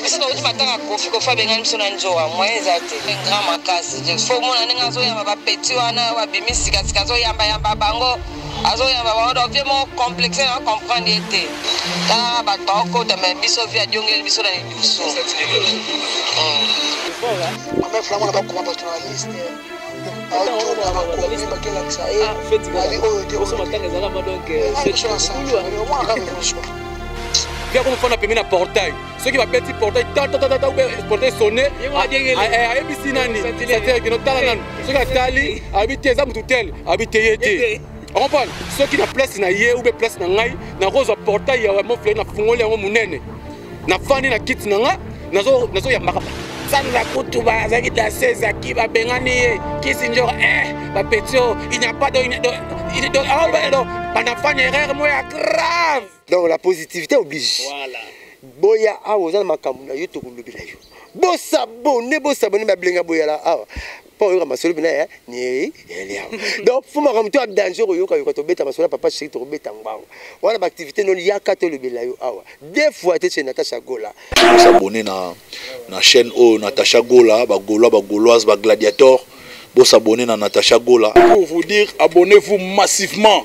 biso nauti matanga kofi kofi abengani biso na nzowa moyen eza te grand makasi fo omona ndenge azoyamba bapeti wana babimi sikasika azoyambayamba bango azoyamba bango donc vie moko complexe na comprendre ye te tala bato baokota me biso vie adiongeli biso na lidusu yako mofana pembe na portail soki babeti portail tatatata ube portail sonne ayebisi nani satekino tala nanu soki atali ayebi te eza motu tel ayebi te ye te okomprendre soki na place na ye ube place na ngai nakozwa portail ya moflei na fungoli yango monene nafandi na kiti na nga nazoyambaka nazo sanza kutu bazalaki dase ezaki babengani ye kisinjor eh bapeti oyo il n'y a pas donc banafani erreur moko ya grave donc la positivité oblige voilà. boya awa oza na makambo na yo tokolobela yo bosabone bosabone bablenga boyala awa mpo oyoka masolo bina ya niei elia donc fo makambo to ya danger okoyoka yoka tobeta masolo ya papa sheri tokobeta ngbango wana baaktivité noli yaka tolobela yo awa de fois te chez natacha gola bosabone na, na chaîne oyo natacha gola bagolois bagoloise bagladiator bosabone na natacha gola pour vous dire abonnez vous massivement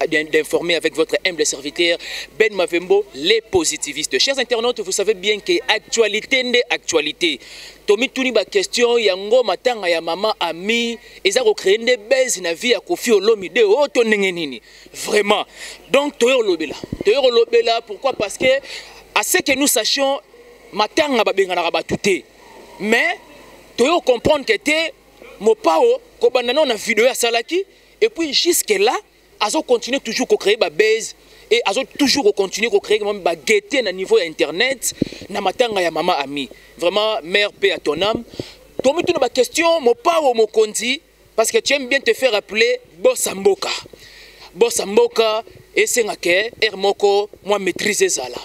Eh bien d'informer avec votre humble serviteur Ben Mavembo, les positivistes. Chers internautes, vous savez bien que actualité n'est actualité. Tomi Touni, ma question, Yango Matanga, ya maman, ami, et ça créé des belles na vie à Kofi Olomide, oh, ton nengenini. Vraiment. Donc, Toyo Olobela. Toyo Olobela, pourquoi Parce que, à ce que nous sachions, Matanga, Babengana Rabatouté. Mais, Toyo comprendre que t'es, Mopao, Kobanana, on a vidéo à Salaki, Et puis jusque là, azo continuer toujours ko créer ba base et azo toujours ko continuer ko créer même ba gaieté na niveau ya internet na matanga ya mama ami. Vraiment mère paix à ton âme. Tomi tuna ba question mopao mokonzi parce que tu aimes bien te faire appeler boss mboka. Boss mboka esenga ke er moko moi maîtrise ezala.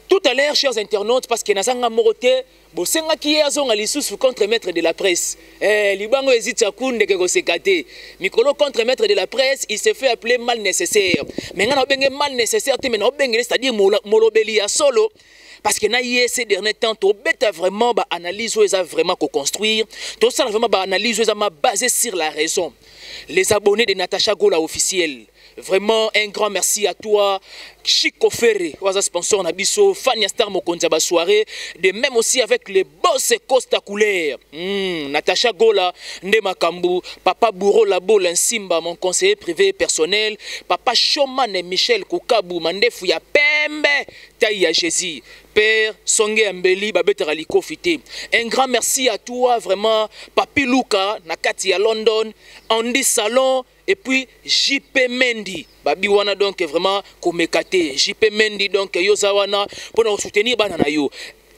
Tout à l'heure chers internautes parce que nazanga morote Bosengaki ye azonga lisusu contre maitre de la presse. Eh, libango ezi tchakou ndeke koseka te. Mikolo contre maitre de la presse, il se fait appeler mal nécessaire. Mais nga na obenge mal nécessaire te, mais na obengele c'est-à-dire molobeli ya solo. Parce que na ye ces derniers temps, to beta vraiment ba analyse oyo eza vraiment ko construire, to sala vraiment ba analyse oyo eza ma basée sur la raison. Les abonnés de Natacha Gola officiel. Vraiment un grand merci à toi Chico Ferre, oza sponsor na biso, fan ya star mokonzi ba soirée, de même aussi avec les boss Costa Couleur. Hmm, Natacha Gola, Nde Makambu, Papa Bouro Labo Linsimba, mon conseiller privé personnel, Papa Showman Michel Kukabu, Mandefu ya Pembe, Taille ya Jésus. Père Songe Ambeli babetaka likofi te. Un grand merci à toi vraiment Papi Luka na kati ya London, Andy Salon Et puis JP Mendy babi wana donc vraiment komeka te JP Mendy donc yo za wana pona soutenir bana na yo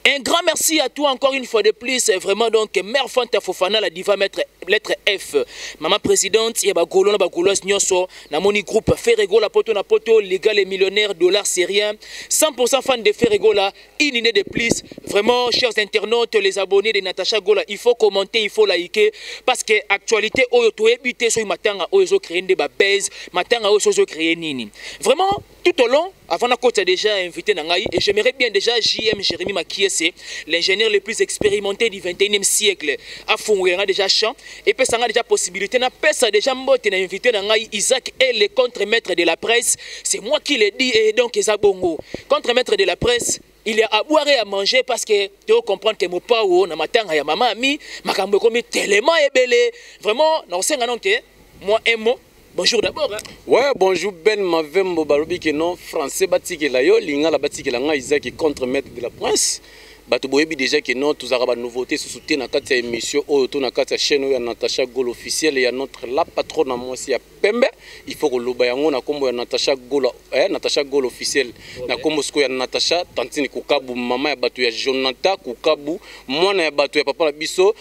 un grand merci à toi encore une fois de plus vraiment donc mère Fanta Fofana la diva maître lettre F maman présidente ya ba golona ba goloise nyoso na moni groupe Ferregola poto na poto légal et millionnaire dollar syrien 100% fan de Ferregola Une idée de plus, vraiment, chers internautes, les abonnés de Natacha Gola, il faut commenter, il faut liker, parce que actualité, oyo to ebite, so matanga, oyo zo créer des base, matanga, oyo zo créer nini. Vraiment, tout au long, avant la côte, déjà invité Nangaï, et j'aimerais bien déjà JM Jérémy Makiese, l'ingénieur le plus expérimenté du 21e siècle, a fondé déjà champ, epesa ngai deja possibilité napesa deja mbote na invité na ngai isaac ele contre maître de la presse c'est moi qui le dit et donc eza bongo contre maître de la presse il y a à boire et à manger parce que tu comprendre que mopao na matanga ya mama ami makambo ekomi tellement ebele vraiment nakosenga nonke moi un mot Bonjour d'abord. Hein? Ouais, bonjour Ben Mavembo balobi que non français batikela yo lingala batikela nga Isaac contre maître de la prince. bato boyebi déjà que non tozalaka banouveauté susu te na kati ya émission oyo to na kati ya chaîne oyo ya natacha gol officiel ya notre la patrone ya mwasi ya pembe il faut koloba yango na nkombo ya natacha gola eh, Natacha Gol officiel na kombo siko ya Natacha Tantine Kukabu mama ya bato ya Jonathan Kukabu mwana ya bato ya papa na biso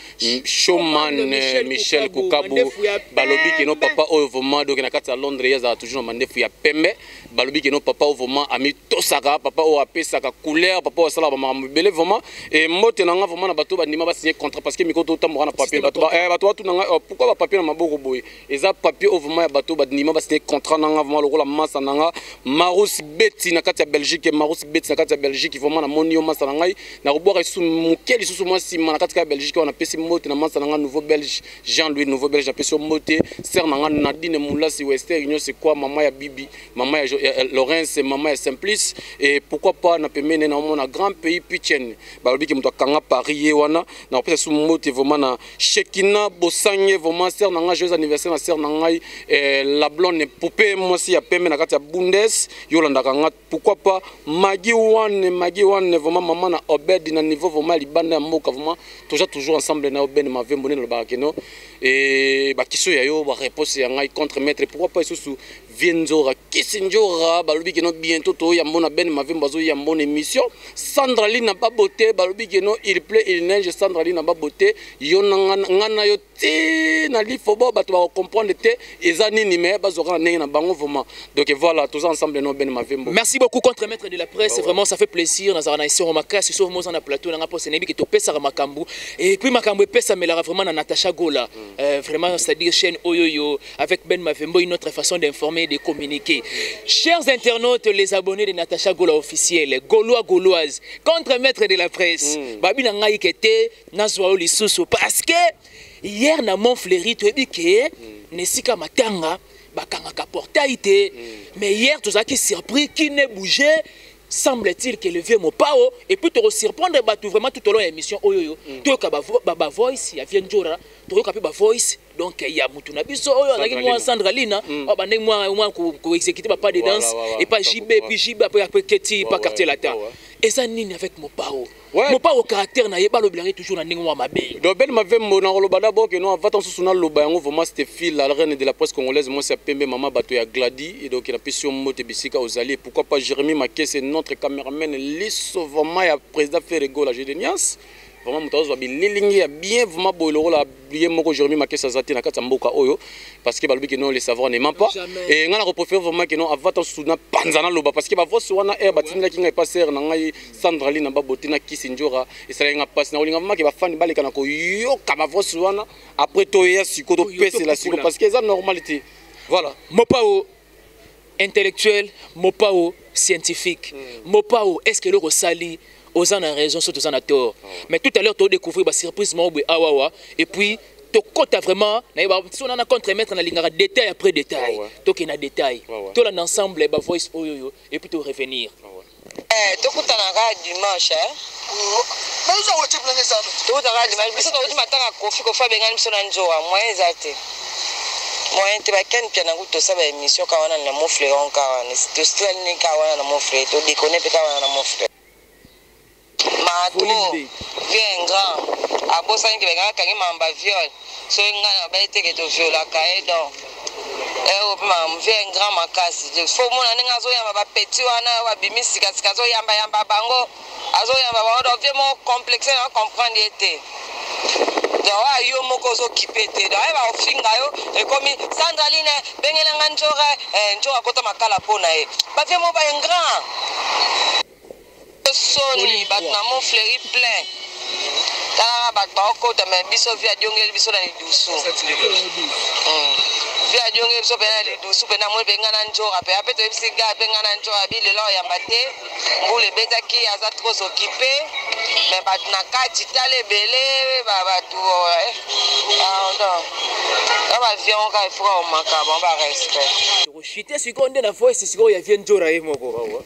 Showman eh, Michel Kukabu balobi keno papa oyo vraiment donc na kati ya Londres ye azala toujours na mandefu ya pembe balobi keno papa oyo vraiment ami tosaka papa oyo apesaka couleur papa oyo asalaka bamakambo ebele vraiment et mbote na nga vraiment na bato bandima ba signer contrat parce que mikoto otamboka na papier bato ba eh, bato batuna nga oh, pourquoi ba papier na maboko boye eza papier oyo vraiment ya bato bandima basine contrat nanga vraiment lokola masa nanga marus beti na kati ya belgique marus beti na kati ya belgique vraiment namoni yo masa na ngai nakobwaka lisusu moke lisusu mwa nsima na kati kaka belgique wana napesi mbote na masa na ngai nouveau belge jean louis nouveau belge napesi yo mbote ser na ngai nadine mulasi wester union c'est quoi mama ya bibi mama ya laurence mama ya simplice et pourquoi pas na pembeni naomona grand pays pichen balobi ke moto akanga paris ye wana nakopesa lisusu mbote vraiment na Shekina Bosange vraiment sœur nanga joyeux anniversaire na sœur nangai eh, la blonde poupée mwasi ya pembe na kati ya Bundes yolanda kanga pourquoi pas Magi One Magi One vraiment maman na Obed na niveau vraiment libanda ya mboka vraiment toja toujours ensemble na Obed Mavembo ne lobaka keno et ba question ya yo ba réponse ya ngai contre maître pourquoi pas isusu vie nzora kisi njora balobi keno bientôt toya mbona ben mavembo azoya mbona émission sandra lina babote balobi keno il plait il neige sandra lina babote yo ngai na yo ti na lifo bo bato bakocomprendre te eza nini me bazwaka na ndenge na bango vraiment donc voilà toza ensemble no ben mavembo merci beaucoup contre maître de la presse oh, vraiment ça fait plaisir nazala na esengo makasi soki moza na plateau nanga mposa nayebi ke topesaka makambo et puis makambo epesamelaka vraiment na natacha gola mm. euh, vraiment c'est à dire chaîne oyoyo avec Ben Mavembo, une autre façon d'informer et de communiquer. Chers internautes, les abonnés de Natacha Gola officiel, Gaulois, Gauloise, contre-maître de la presse, mm. Babi Nangaï Kete, Nazwao Lissousou, parce que hier, na Montfleury, tu as dit que mm. Nessika Matanga, bakangaka portail te mm. mais hier tozalaki surpris qui ne bougeait semble-t-il que le vieux mopao et puis tokosurprendre bato vraiment tout au long ya émission oyo oyo mm. toyoka bavoice ya vieux njora toyoka mpe bavoice donc il y a mutu na biso oyo azalaki mwa Sandra Lina hmm. abandaki mwa mwa ko exécuter ba pas de danse et pas JB puis JB après après Keti pas quartier latin eza nini avec Mopao Mopao caractère na ye balobelaki toujours na ndenge mwa mabe donc Ben Mavembo na koloba d'abord que non avant tant sous na loba yango vraiment c'était fil la reine de la presse congolaise moi c'est pembe maman bato ya Gladi et donc na pesi mbote bisika ozali pourquoi pas Jérémy Makese notre cameraman liso vraiment ya président Ferrego la Gédénias vraiment moto azozwa bililingi ya bien vraiment boye lokola ye moko jeremi makesi aza te na kati ya mboka oyo parce que balobi ke non le savoir ne ment pas e ngai nakopréfère vraiment ke non avata nsusu na panza naloba parce que bavoice wana aire batindaki ngai epa sere na ngai sandra lina babote na kisi njora esalaki ngai mpasi nakolinga vraiment ke bafani baleka na koyoka bavoice wana après toyeya siko topesela siko parce que eza normal te voilà mopao intellectuel mopao scientifique mm. mopao est ce que eloko osali oza na raison soki toza na tort oh. mais tout à l'heure todécouvrir basurprise moko boye awawa et puis tokota vraiment nayeba so nana contre maître nalingaka détail après détail ah tokende na détail ah tolanda ensemble bavoice oyoyo et puis torevenir ah Eh, tokutana kaka dimanche eh? tokutana kaka dimanche biso tokoti matanga kofi kofi abengani biso na nzowa moyen eza te moyen te bakani pia nango tosa ba émission ka wana na mofleron ka wana tostralini ka wana na mofle todekone mpe ka wana na mofle mato vieux grand abosani ke bengaka kangi mamba viol soki ngai na baye teke toviolaka ye donc eyo mpe makambo vie grand makasi fo omona ndenge azoyamba bapeti wana babimi sikasika azoyambayamba bango azoyamba bango donc vie moko complexe na comprendre ye te donc oyo yo moko ozokipe te donc ayeba ofinga yo ekomi sandraline bengelanga njoka eh, njoka akota makala mpo na ye bavie moko baingrand soni bato na mont fleuri plein talaka bato baokota me biso vi adiongeli biso na lidusu hmm. vi adiongeli biso mpe na lidusu mpe namoni mpe ngai na njora mpe ape toyebisi ga mpe ngai na njora bi lelo oyamba te mbula ebetaki aza tros okipe me bato na kati tala ebele bato eh, pardon na bavion oka efuka omaka bango barespect tokoshite sikoyo nde na voice sikoyo ya vie njora ye moko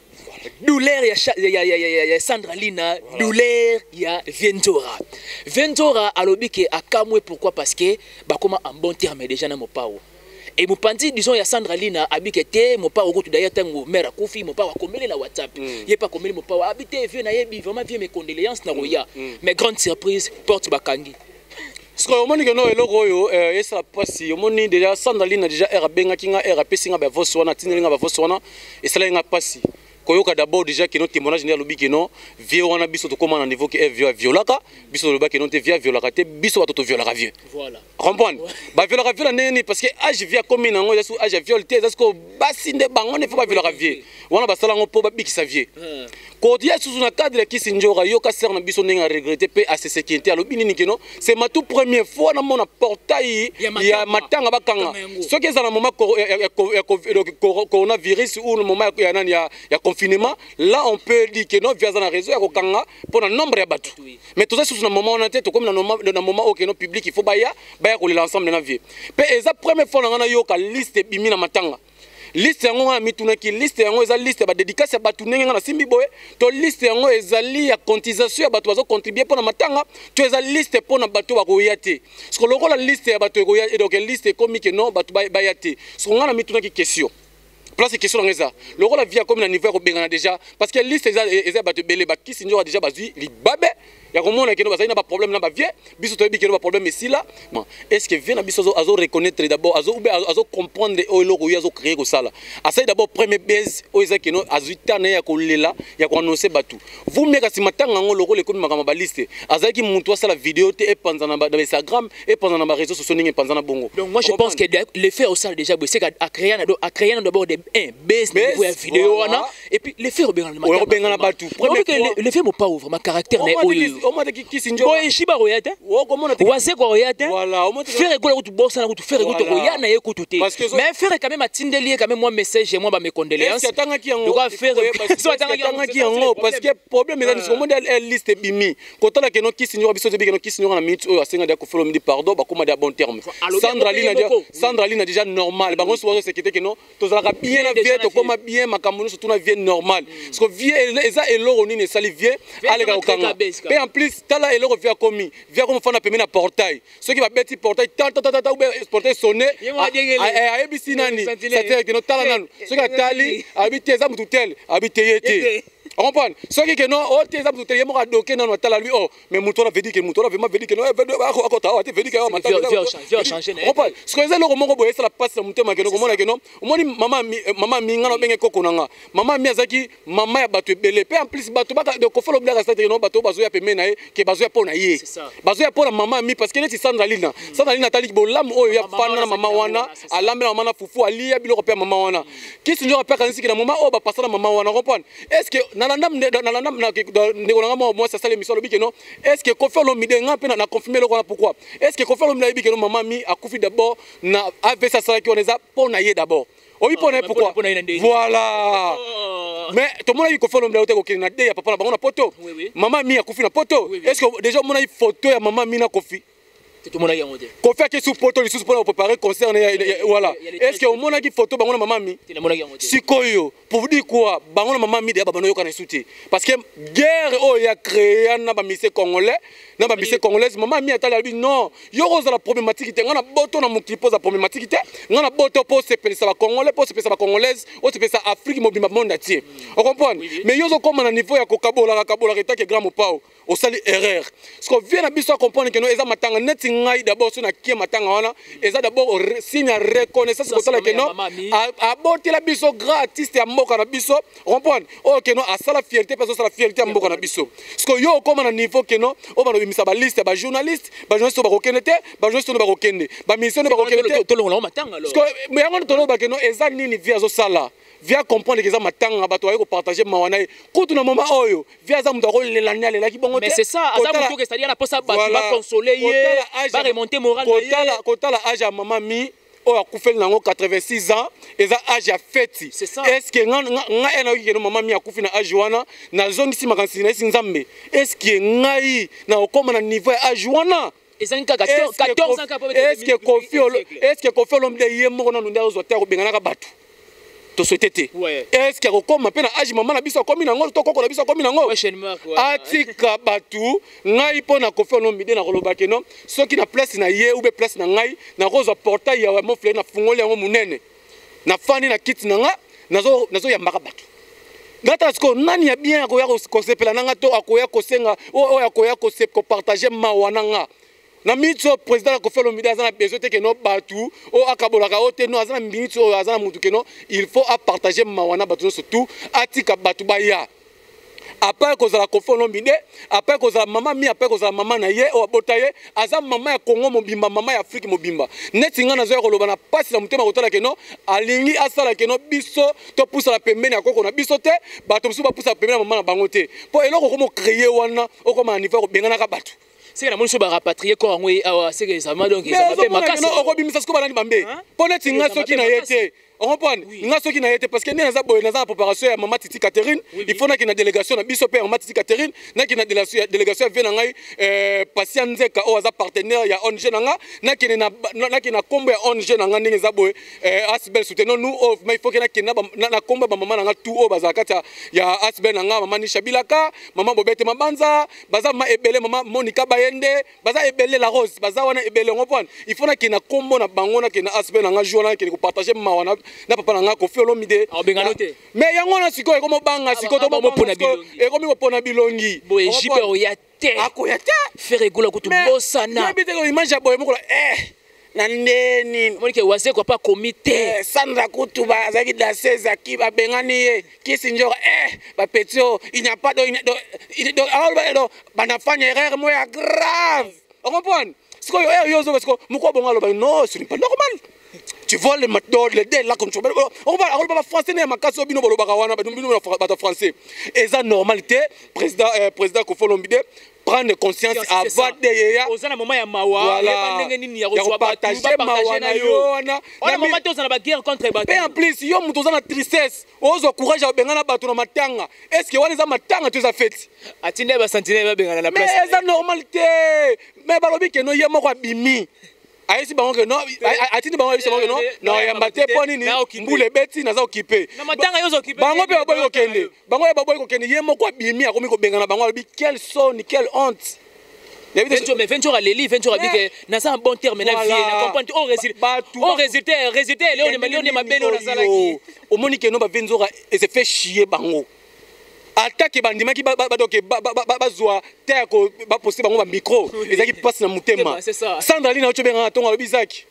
douleur ya, ya, ya, ya, ya, ya sandra lina voilà. douleur ya vientora vientora alobi ke akamwe pourquoi parce que bakoma en bon terme déjà na mopao e mopanzi disons ya sandra lina abike te mopao okutu daya ntango mare akufi mopao akomeli na whatsapp mm. ye mpe akomeli mopao abi te vieux nayebi vraiment vieux mes condoléances na koya mm. mm. mais grande surprise porte bakangi sikoyo omoni keno eloko oyo eh, esala mpasi omoni deja sandalina deja r abengaki nga r apesi nga bavose wana atindeli nga bavose wana esalaki nga mpasi koyoka d'abord déjà keno témoignage nde alobi keno vieux wana biso tokóma na niveau ke eh, vieux aviolaka biso toloba keno te vieux aviolaka te biso bato toviolaka vieux voilà. comprendre baviolaka vieux na ndenge nini parce que age vieux akomi na yango eza su age ya viole te eza sikoyo basi nde bango nde fo baviolaka vieux wana basala yango mpo babikisa vie hmm. kodia susu na cadre ya kisi njora yoka sere na biso ndenge aregrete mpe asesekinte alobi nini keno se matu première fois namona portail ya matanga bakanga soki eza na moment coronavirus ou na moment ya nani ya confinement là on peut dire que no vi aza na réseau ya kokanga mpo na nombre ya bato mais toza susu na moment wana te tokomi na moment oyo keno public il faut baya baya kolela ensemble na vie mpe eza première fois na ngai nayoka liste ebimi na matanga liste yango ngai namitunaki liste yango eza liste ya badedikasi ya bato ndenge ngai nasimbi boye to liste yango ezali ya cotisation ya bato bazocontribue mpo na matanga to eza liste mpo na bato bakoya te soko lokola liste ya bato ekoya donc liste ekomi ke non bato baya te soko ngai namitunaki question place question yango eza lokola vie akomi na niveau ya kobengana déjà parce que liste eza ya bato ebele bakisi nzoka déjà bazwi libabe ya komona keno bazali na baproblème na bavie biso toyebi keno baproblème esila est ce que vie na biso azo reconnaître d'abord azo ube azo comprendre oyo eloko oyo azo créer kosala asali d'abord premier base oyo eza keno azwi temps na ye ya kolela ya koannonce bato vous meka nsima ntango yango lokola ekomi makambo ya baliste azalaki motu asala video te epanza na bainstagram epanza na bareseau sociaux ndenge epanza na bongo donc moi je pense que l'effet osala déjà boye seka acréa na do acréa na d'abord de un base na niveau ya video wana et puis les faits obengana le matin obengana batu premier que les faits mon pauvre ma caractère mais oyo au moins qui qui sinjo boy shiba roya te wase ko roya te faire ko kutu bossa na kutu faire kutu roya na ye kutu te mais faire quand même atindeli ye quand même moi message moi ba mes condoléances atanga ki yango doka faire so atanga ki yango parce que problème eza nisiko monde elle liste bimi kotala que non qui sinjo biso te bikeno qui sinjo na minute oyo asenga dia ko follow me dit pardon ba koma dia bon terme Sandra Lina Sandra Lina déjà normal bango so se kite que non tozalaka bien na vie tokoma bien makambo nyonso tuna vie normal parce que vie eza eloko nini esali vie aleka kokanga mpe en plus tala eloko vie akomi vie akomi fanda pembe na portail soki babeti portail tatatata ube portail sonne ayebisi nani satire kino tala nanu soki atali abi te eza motu tel abi te ye te comprendre soki ke non oyo te eza moto te ye moko adoke nano atala lui o oh, mais moto wana vedike moto wana vraimen vedike akota awa te vedike awa mataaompane soki eza eloko moko boye esala mpasi na motema keno komona keno omoni mama mi nga na obenge koko na nga mama mi azalaki mama ya bato ebele mpe en plus bato kofala obilaka sate keno bato bazoya peme na ye ke bazoya mpo na ye bazoya mpo na mama mi parce que neti sandra lina hmm. sandra lina atali bolamu oyo ya fana na mama wana alambela mama na fufu aliya biloko mpe ya mama wana kisinjoko mpe akanisiki na moma oyo bapasa na mama wana comprendre est ce que nalanda ndeko na ngai mwa mwasi asali emission alobi keno est ce que kofi olomide ngai mpe na confirme eloko wana pourquoi est ce que kofi olomide ayebi keno mama mi akufi d'abord na avc asalaki wana eza mpo na ye d'abord oyebi mpo na ye pourquoi voilà oh. mais tomonaki kofi olomide auta kokende na de ya papa na bango na poto mama mi akufi na poto est ce que déjà omonaki photo ya mama mi na kofi tomonaki yango te kofi ake su poto lisusu mpona koprepare concert wala est ce que omonaki foto bango na mamami sikoyo pour dire quoi bango na mamami deya babanda oyokana esu te parce que guerre oyo ya créa na bamise congolais na bamise congolaise mama mi atali alobi non yo kozala problématique te ngai na boto na mokili mpo oza problématique te ngai na boto mpo osepelisa bacongolais mpo osepelisa bacongolaise osepelisa afrique mobimba monde atie ocomprendre mais yo ozokoma na niveau ya kokabolaka kabolaka etake grand mopao osali erreur siko vie na biso acomprendre keno eza matanga neti ngai d'abord so nakie matanga wana eza d'abord signe ya reconnaissance kotala keno abotela biso grand artiste ya mboka na biso comprendre oyo oh, keno asala fierté mpe azosala fierté ya mboka na biso siko yo okóma na niveau keno oyo banobimisa baliste ya bajournaliste bajournaliste oyo bakokende te bajournaliste oyo bakokende baministre oyo bakokende te yango toloba keno eza nini vie azosala via comprendre keza matanga bato baye kopartage mawa na ye kutu na moma oyo via aza moto akolela nde alelaki bongo tekotala age ya mama mi oyo akufeli nango 86 ans eza age ya feti estce nga e nayoki keno mama mi akufi na age wana nazongisi makanisi na esi nzambe estce ngai nakokoma na niveau ya age wana ezangi kaka 14 ans kaka est-ce que Kofi est-ce que Kofi Olomide ye moko nanu nde azwa te akobenganaka bato toswete te est-ce que akokoma mpe na age mama na biso akomi nango to koko na biso akomi nango atika bato ngai mpo na Kofi Olomide nakoloba keno soki na place na ye ube place na ngai nakozwa portail ya mofle nafungoli yango monene na fani na kiti na nga nazo nazo yambaka bato ngata sikoyo nani ya bien akoya kosepela na nga to akoya kosenga oyo akoya kopartage mawa na nga na miniti oyo président ya kofi olomide aza na besoin te keno bato oyo akabolaka oyo te no aza na miniti oyo aza na motu keno il faut apartage mawa na bato nyonso tout atika bato baya apare kozala kofi olombide apare kozala mama mi apare kozala mama na ye oyo abota ye aza mama ya kongo mobimba mama ya afrike mobimba neti ngai nazoya koloba na mpasi na motema kotala keno alingi asala keno biso topusana pembeni ya koko na biso te bato mosusu bapusana pembeni ya mama na bango te mpo eloko okoma okreye wana okoma na niveau ya kobenganaka bato seke namoni so barapatrie kor yango ye awa seke ezalma donc ezalma mpe makasi okobimisa siko balandi bambe mpo neti ngai soki na ye te orompoane oui. nga soki na ye te parce que nde naza boye naza na préparation ya mama titi catherine oui, il faut naki na délégation na biso mpe ya mama titi catherine naki na délégation ya vie na ngai euh, pasia nzeka oyo aza partenaire ya ong na nga nakende naki na nkombo ya ong na nga ndenge eza boye euh, asbel souteno nu oyo ma il faut ke nakende na nkombo ya bamama na nga tout oyo bazala kati ya asbel na nga mama nisha bilaka mama bobete mabanza baza mama ebele mama monika bayende baza ebele la rose baza wana ebele yango mpona il faut nakende na nkombo na bango nakende na asb na nga jour wana nakende kopartage mawa na papa na nga kofi olomide mais yango wana sikoyo ekomi obanga sikoyo ekomi kopona bilongi boye jipe oya te akoya te ferre egola kutu bosana yebi te image ya boye mokola eh na ndenge nini moni ke wazekwa mpe akomi te eh, sandra kutu azalaki danse ezaki babengani ye kisi njora eh bapeti oyo inyapa do aoloba do bana fani erreur mo ya grave okomprendre sikoyo eh, yo ozoba sikoyo moko bongo aloba no ce n'est pas normal tu vois le matol le de la comme tu vois on va on va français ne makasi obino bolobaka wana bino bato français eza normal te président eh, président kofolombi de prendre conscience avant de yeya oza na mama ya mawa voilà. yeba ndenge nini ya kozwa bato bapartage na yo wana wana mama te oza na baguerre contre bato mpe en plus yo moto oza na tristesse ozwa courage ya kobengana bato na matanga est ce que wana eza matanga to eza feti atindi ya basantine babengana na place mais eza normal te mais balobi keno ye moko abimi ayesi bango ke non atindi bango ayebisa bango ke non nakoyamba te mpo nini mbula ebeti naza okipe bango mpe baboyi kokende bango ye baboyi kokende ye moko abimi akomi kobengana bango alobi quel soni quel honte venture aleli venture abike naza na bon terme na vie na comprendre o résultat o résultat résultat eleo ne mabele oyo nazalaki omoni ke no ba venture ese fait chier bango atake bandimaki badoke bazwa te ya baposte bango bamicro ezalaki mpasi na motema sandra lina oco bengaka ntongo alobi zaki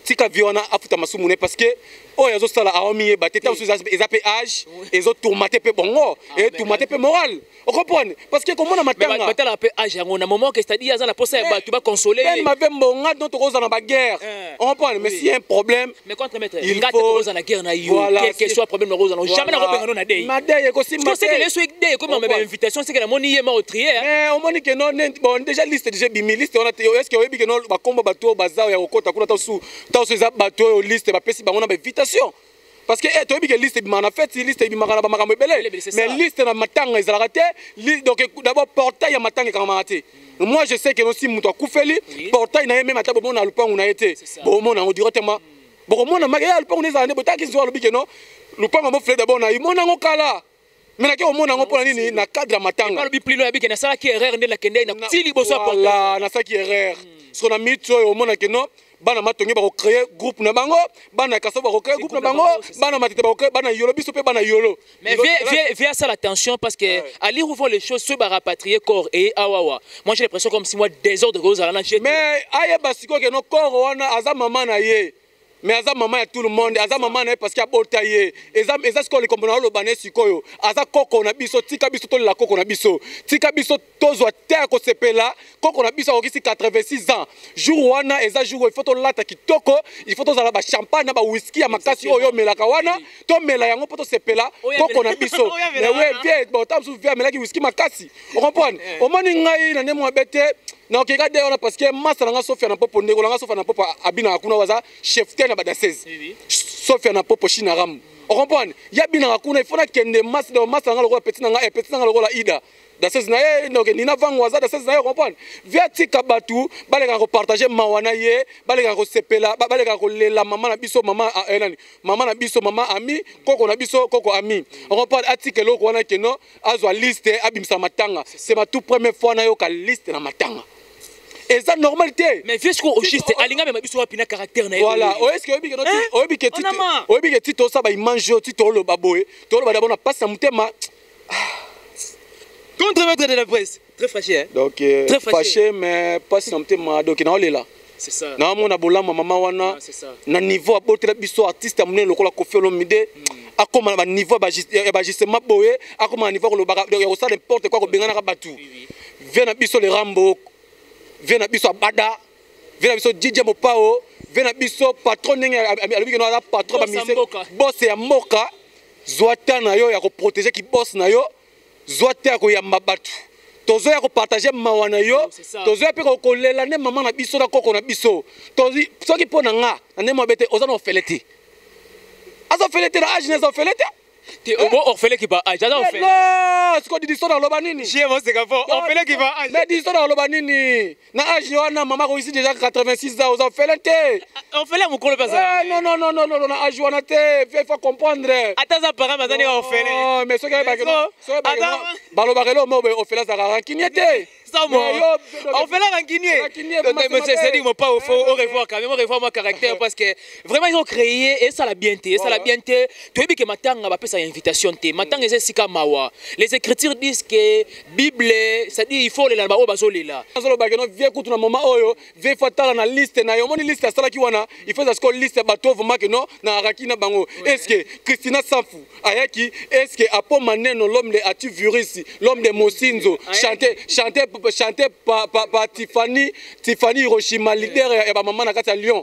tika vie wana afuta masumu ne parce que oyo oh, azosala aomiyeba te ntango mosusu eza mpe age ezotourmate mpe bongo ah, etourmate mpe moral okomprendre parce que komona matangabatalaka mpe age yango na moment que c'est-à-dire aza na mposa ya eh, bato baconsole ye mave mbonga don tokozala na baguerre eh, okomprendre mais si un problème mais contre maître il ngate faut koza na guerre na yo voilà, quel que soit problème na koza na voilà. jamais na kobenga no na dei ma dei eko simba c'est que les souhaits dei comme ma invitation c'est que la moni yema au trier hein. mais au moni que non bon déjà liste déjà bimi liste on a est ce que oyebi que non ba combo ba to bazao ya kokota kuna ta su ta su za ba to liste ba pesi bango na invitation parce que eh, toyebi ke liste ebimaka na feti liste ebimaka na bamakambo ebele mais liste na matanga ezalaka te donc d'abord portail ya matanga ekangamaka te moi je sais que nosi moto akufeli portail na ye meme ata bomona lupangu na ye te bomona yango directement bokomona maka ya lupangu na ezala nde botaki nzoa alobi keno lupangu yango fele dabord na ye mona yango kala me nake komona yango mpona nini na cadre ya matangaalobi plino yabi ke nasalaki erreur nde nakendei na ti liboso ya portail nasalaki erreur hmm. soko na minute oyo omona keno no bana matonge bakocreye groupe na bango bana kaso bakocreye groupe na bango bana matete bakocreye bana yolo biso mpe bana yolo mais vie asala attention parce que ouais. à lire ouvant les choses soki barapatrie corps eye awawa moi j'ai l'impression comme si moi désordre kozala na mais ayeba sikoyo keno corps wana aza mama na ye mais aza mama ya tout le monde aza mama na ye parce que abota ye eza, eza sikoyo likombo na oloba na ye sikoyo aza koko na biso tika biso tolela koko na biso tika biso tozwa te ya kosepela koko na biso akokisi 86 ans jour wana eza jour il faut tolata kitoko il faut tozala bachampagne na bawiski ya makasi oyo omelaka wana tomela yango mpo tosepela koko na biso botamsu vie amelaki wiski makasi okomprendre eh. omoni ngai na nde mwabe te nakokeka de wana parce que masa na nga sofia na popo ndeko na nga sofia na popo abinaka kuna waza chef te na badasese sofia na popo shinaramu okomprendre ye abinaka kuna ifo nakende masa na nga lokola peti na nga eh, peti na nga lokola ida dases na ye donc nina vango aza dases na ye comprendre via tika bato balekaka kopartage mawa na ye balekaka kosepela balekaka kolela mama na biso mama ah, eh, nani mama na biso mama ami koko na biso koko ami comprendre atika eloko wana keno azwa liste abimisa matanga c'est ma tout première fois nayoka liste na matanga eza normal te mais vieux sikoyo ogiste alinga mema biso wapi na caractère na ye voilà oyeske oyebi keno oyebi ke tito oyebi ke tito osaba image oyo tito oloba boye toloba dabord na pasi na motema contre maître de la presse très fâché hein donc euh, très fâché mais pas sans motema donc na olela c'est ça na mona bolama maman wana na niveau abotela biso artiste ya monene lokola Koffi Olomide mm. akoma na baniveau ya bajustement boye akoma na niveau kolobaka ya kosala importe kua kobenganaka bato vie na biso le rambo vie na biso abada vie na biso didie mopao vie na biso patron ndenge alobiki no aza patron bamise bose ya mboka zwa temps na yo ya koprotege kibos na yo zwa te ya koyamba bato tozoya kopartage mawa na yo tozoya mpe kolela nde mama na biso na koko na biso soki mpo na nga na ndenge mabe te oza na ofele te aza ofele te na age na eza ofele te te obo eh? ofele ki ba age aza eh, ofele siko didiso na oloba nini ofele ki ba age mais didiso na oloba nini na age wana mama akoyisi deja 86 ans oza ofele te eh, eh, ofele mokolo mpe azalanonononono na age wana te fe faut comprendre ata aza parent baza ndenge ofele oh, mais soki balobaka elo mo ofele azalaka rankinie te ofele rankinieesedi mopa ofo eh, orevoir quand même orevoir mwa caractère parce que vraiment yo créer esala bien te esala bien te toyebi ke matanga bapesaka invitation te matanga eza esika mawa les écritures disent que bible cestadire il faut olela na baoyo bazolela azoloba keno vie kutu na moma oyo vie fo atala na liste na yo omoni liste asalaki wana il faut ezasiko liste ya bato ovuma keno na araki na bango estce christina safu ayaki estce apo maneno l'homme de ati virus l'homme de mosinzo chante chante chante pa, pa, pa tifani tifani hiroshima leader ya bamama na kati ya lyon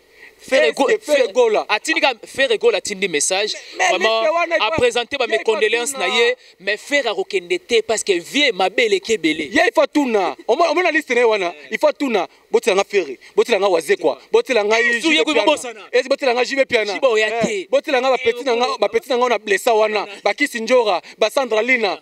Ferre Go- Est-ce que Ferre Ferre- Gola- atindi ka Ferre Gola atindi message mais vraiment liste wana il faut- apresente ba il faut mecondoléance na atuna. ye mais Ferre akokende te parce que vie mabe eleki ebele ye il faut atuna Omo- omona liste na ye wana il faut atuna botela nga ferre botela nga wazekwa botela nga Yesu, JB ye kuyi Piana. babosana. Esi botela nga jibe piana Jibe oya te. Eh, botela nga bapeti na nga bapeti na nga na blessa wana bakisi njora basandra lina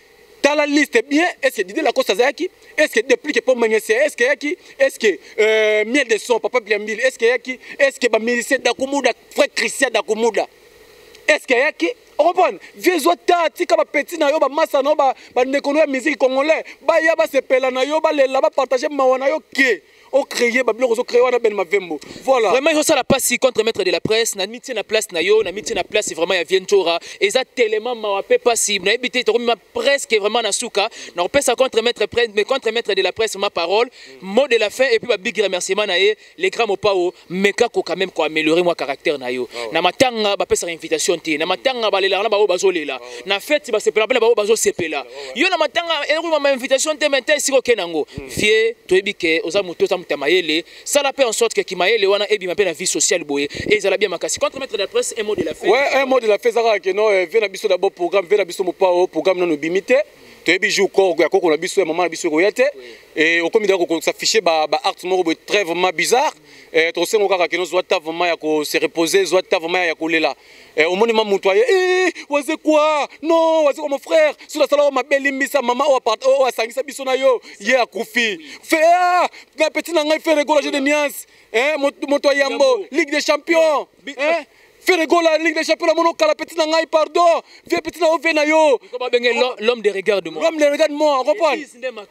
tala liste bien est ce que Didier Lacoste azalaki est ce que déplique pour Mangese est ce que yaki est ce que euh, miel de son papa Biambili est ce que yaki est ce que ba musicien Dakumuda frère Christian Dakumuda est ce que yaki okomprendre vie ezwa ta tika bapeti na yo bamasa na yo bandeko na yo ya miziki congolais baya basepela na yo balela bapartage mawa na yo ke au créer ba biloko zo créer wana Ben Mavembo voilà vraiment yo sala passe contre maître de la presse na mitie na place na yo na mitie na place vraiment ya Vientora eza tellement mawa pe passe na ebité to ma presque vraiment na souka na pesa contre maître presse mais contre maître de la presse ma parole mot de la fin et puis ba big remerciement na ye les grands mopao meka ko quand même ko améliorer moi caractère na yo ah na matanga ba pesa invitation te na matanga ba lela na ba bazo lela ah na fête ba sepela ba ba bazo sepela ah yo na matanga et ko ma invitation te mais si ko kenango hmm. vieux to ebike oza moto oza mutama yele sala pe en sorte que kimayele wana ebi ma pe na vie sociale boye et ezala bien makasi contre maître de la presse un mot de la fête ouais un mot de la fête zaka que non eh, vieux na biso d'abord programme vieux na biso mopao programme no no bimite toyebi jour koko ya koko na biso ya mama na biso ekoya te et au comité ko s'afficher ba ba actes moko très vraiment bizarre et to sengo kaka kino zwa ta vraiment ya ko se reposer zwa ta vraiment ya kolela et au monde mamu toi eh waze quoi non waze quoi mon frère sur la sala ma belle limbisa maman au appart au asangisa biso na yo ye akufi fait ah na petit na ngai fait regorger de nuances hein mon toi yambo ligue des champions hein Ferre Gola alingi na chapeau na mono kala petit na ngai pardon vieux petit na ove na yo l'homme de regard de moi l'homme de regard de moi comprendre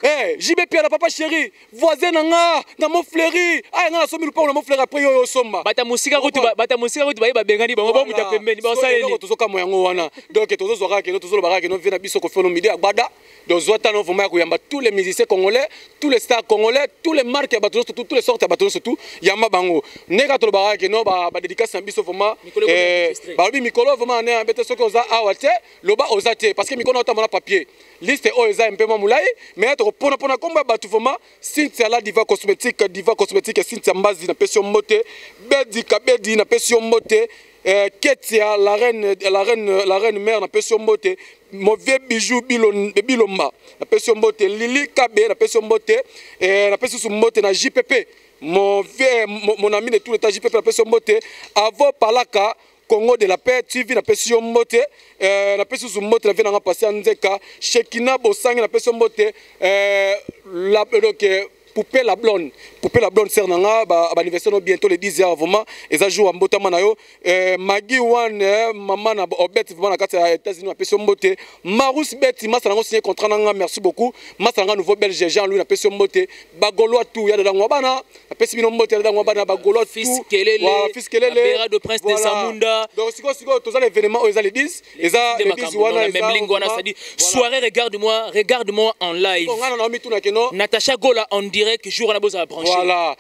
eh JB Pierre papa chéri voisin na nga na mo fleuri aya nga na somi lupango na mo fleuri après yo yo somba bata musika kutu bata musika kutu baye babengani bango bamuta pembeni basala nini tozo kamo yango wana donc tozo zwa kaka kino tozo loba kaka kino vie na biso ko felo midi agbada Donc Zouatano vraiment koyamba tous les musiciens congolais, tous les stars congolais, tous les marques ya bato surtout, tous les sortes ya bato surtout, yamba bango. Neka to ba ke no ba ba dédicace na biso vraiment eh ba lobi mikolo vraiment na bete soki oza awa te, loba oza te parce que mikolo otamba na papier. Liste oyo eza mpe mamulai, mais to pona pona komba bato vraiment Cynthia la diva cosmétique, diva cosmétique Cynthia Mbazi na pesi mbote, Bedi Kabedi na pesi mbote. Eh, ketia la reine, la reine, la reine mère na pesi mbote mauvais bijou bilomba na pesi mbote lili kabe na pesi mbote eh, na pesi mbote na jpp mon vieux mon ami de tout l'état jpp na pesi mbote avo palaka Congo de la paix TV na pesi yo mbote euh, na pesi su mbote na vie nanga pasi ya nzeka Shekina Bosangi na pesi yo mbote euh, la, donc, euh, Poupée la blonde, Poupée la blonde, sœur nanga, ba, ba anniversaire no bientôt le 10 heures vraiment, eza jour à mbotama na yo, euh, Maggie One, euh, maman na Obet oh, vraiment na kati ya États-Unis na pesi mbote, Marus Betty, masa nango signé contrat nanga, merci beaucoup, masa nanga nouveau belge Jean Louis na pesi mbote, ba golois tout, ya dadango bana, na pesi bino mbote ya dadango bana ba golois tout, fils kelele, voilà, fils kelele, Bera de prince voilà. de Samunda. Donc siko siko tozali événement oyo eza le 10, eza nde makambo na memlingo wana c'est-à-dire soirée regarde moi regarde moi en live ngana na mituna keno Natacha Gola en direct jour wana bozala branché voilà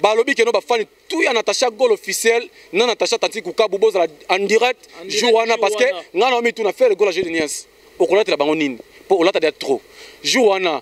balobi keno bafani tout ya Natacha Gola officiel na Natacha Tati Kukabu bozala en direct jour wana parce que ngana na mituna faire Gola j'ai de niance okolatela bango nini po olata dia trop jour wana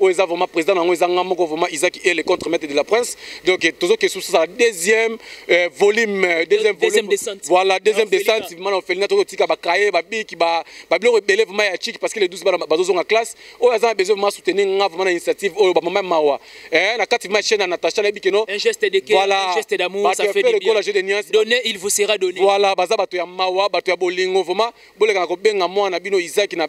oyo eza vraiment président na yango eza nga moko vraiment Isaac Ele contre maître de la prince donc eh, tozo kesu sala deuxième euh, volume euh, deuxième deuxième descente voilà deuxième descente mana ofelina tozo tika ba kaye ba biki ba ba biloko ebele vraiment ya chic parce que les 12 bana bazo zonga classe oyo aza besoin vraiment soutenir nga vraiment na initiative oyo ba maman mawa eh na kati ma chaîne Natacha na biki no un geste de cœur voilà. un geste d'amour ça fait du bien le jeu de nuances donner il vous sera donné voilà baza bato ya mawa bato ya bolingo vraiment boleka na kobenga mwana bino Isaac na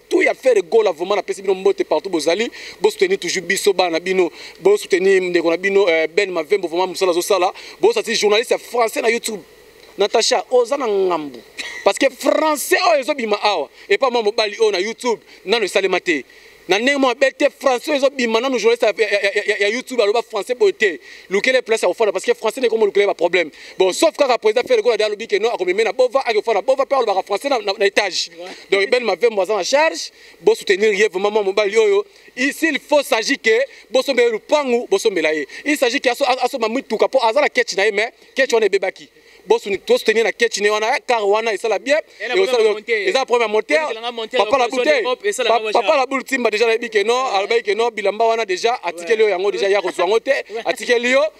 tout ya faire gola vraiment na pesi bino mbote partout bozali bo soutenir toujours biso bana bino bo soutenir ndeko na bino euh, Ben Mavembo vraiment musala zo sala bo sati journaliste français na YouTube Natacha oza na ngambu parce que français oyo ezo bima awa et pas moi mobali oyo na YouTube nanu esalema te na ndenge moko mabe te français ezo bima nanu journaliste ya, ya, ya, ya, ya youtube aloba français boye te lukele place ya kofanda parce que français nde ekomo lukele baproblème bon sauf kaka président Ferre Gola alobi que non akomeme na Bova akofa na Bova pe alobaka français na, na, na étage donc Ben Mavembo aza na charge bo soutenir ye vraiment mwa mobali oyo s'il faut s'agit que bosombela ye lupangu bosombela ye il s'agit que asomba mituka mpo aza na kechi na ye mais kechi wana ebebaki tosoutenir na kechi ne wana kar wana esala bien eza problème ya moteur papa la boute papa la boule timba déjà nayebi ke non alobaki ke non bilamba wana déjà atikeli yo yango déjà ya kozwa yango te atikeli yo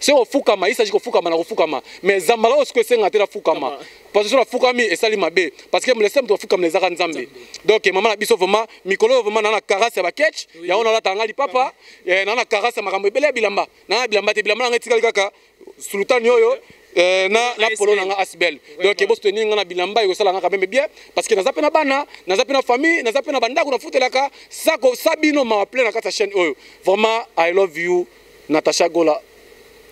se kofukama ye saji kofukama na kofukama mais zamba kaka osiko esenga te nafukama parce que so nafukami esali mabe parce que molese moto afukamela ezaka nzambe donc mama na biso vraimen mikolo oyo vraimen naa na karase ya baketch yango nalataka ngai lipapa eh, naa na karase ya makambo ebele ya bilamba naa na bilamba te bilamba na ngai etikali kaka sultani oyo Eh, na na polo na nga asbel donc ebo soutenir nga na bilamba ekosala nga kameme bien parce que naza mpe na bana naza mpe na famille naza mpe na bandako nafutelaka sako sabino mawa plein na kati ya chaîne oyo vraiment i love you Natacha Gola,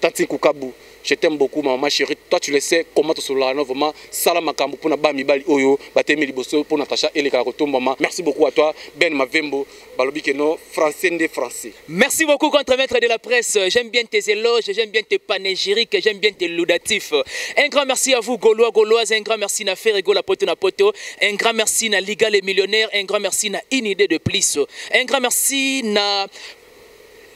Tantine Kukabu, je t'aime beaucoup ma maman chérie. Toi tu le sais comment tu sola non vraiment sala makambo pona ba mibali oyo batemi liboso pona Natacha ele kala kotombama. Merci beaucoup à toi Ben Mavembo. Balobi que non français nde français. Merci beaucoup contre maître de la presse. J'aime bien tes éloges, j'aime bien tes panégyriques, j'aime bien tes laudatifs. Un grand merci à vous Gaulois, Gauloises, un grand merci na Ferre Gola Poto na Poto, un grand merci na Liga les millionnaires, un grand merci na Inidée de plus. Un grand merci na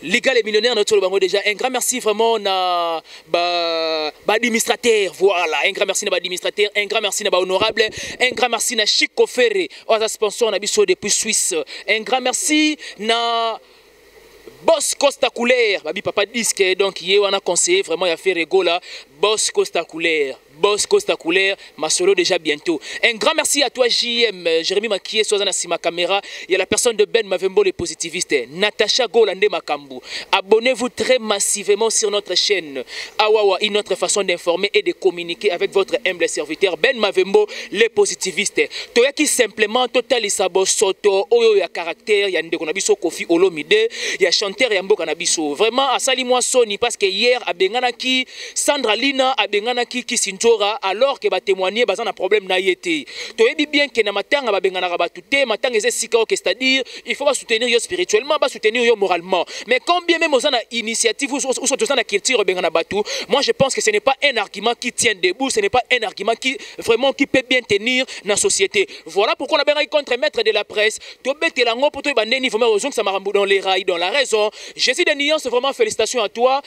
Liga les millionnaires notre bango déjà un grand merci vraiment na ba, ba administrateur voilà un grand merci na ba administrateur un grand merci na ba honorable un grand merci na Chico Ferre oza sponsor na biso depuis Suisse un grand merci na Boss Costa Couleur, babi papa disque donc yé wana conseiller vraiment ya Ferre Gola, Boss Costa Couleur. Boss Costa Couleur, ma solo déjà bientôt. Un grand merci à toi JM, euh, Jérémy Makié, Soazana Sima Camera, il y a la personne de Ben Mavembo, les positivistes, Natacha Golande Makambu. Abonnez-vous très massivement sur notre chaîne. Awawa, une autre façon d'informer et de communiquer avec votre humble serviteur Ben Mavembo, les positivistes. Toya qui simplement total isabo soto, oyo ya caractère, ya ndeko nabiso Kofi Olomide, ya chanteur ya mboka nabiso. Vraiment, asali moi Sony parce que hier, abengana qui Sandra Lina abenganaki Kisindjora alors que ba témoigner baza na problème na ye te. Toyebi bien que na matanga babenganaka batu te, matanga eza esika oke c'est-à-dire il faut ba soutenir yo spirituellement, ba soutenir yo moralement. Mais quand bien même oza na initiative ou soit oza na culture obengana batu, moi je pense que ce n'est pas un argument qui tient debout, ce n'est pas un argument qui vraiment qui peut bien tenir na société. Voilà pourquoi on a bien contre maître de la presse, to betela ngo poto ba ndeni vraiment ozongisa makambo dans les rails dans la raison. Jésus de nuance vraiment félicitations à toi.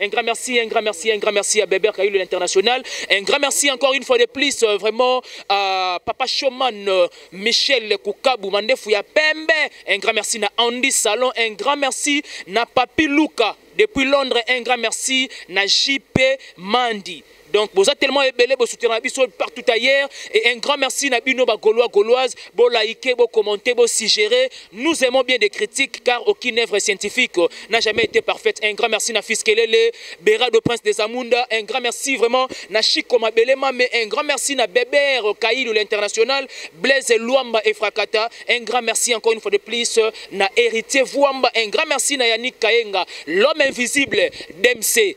Un grand merci, un grand merci, un grand merci à Beber Kayulu l'international. Un grand merci encore une fois de plus, euh, vraiment, à Papa Showman, euh, Michel Koukabou, Mandefu ya Pembe. Un grand merci na Andy Salon, un grand merci na Papi Luka. Depuis Londres, un grand merci na JP Mandi. Donc boza tellement ebele bo soutenir biso partout ailleurs et un grand merci na bino ba golois goloise bo liker bo commenter bo suggérer nous aimons bien des critiques car aucune œuvre scientifique n'a jamais été parfaite un grand merci na fils Kelele Berado prince des Amunda un grand merci vraiment na Chico Mabelema mais un grand merci na Beber Kailou l'international Blaise Luamba et Frakata un grand merci encore une fois de plus na héritier Vuamba un grand merci na Yannick Kaenga l'homme invisible d'MC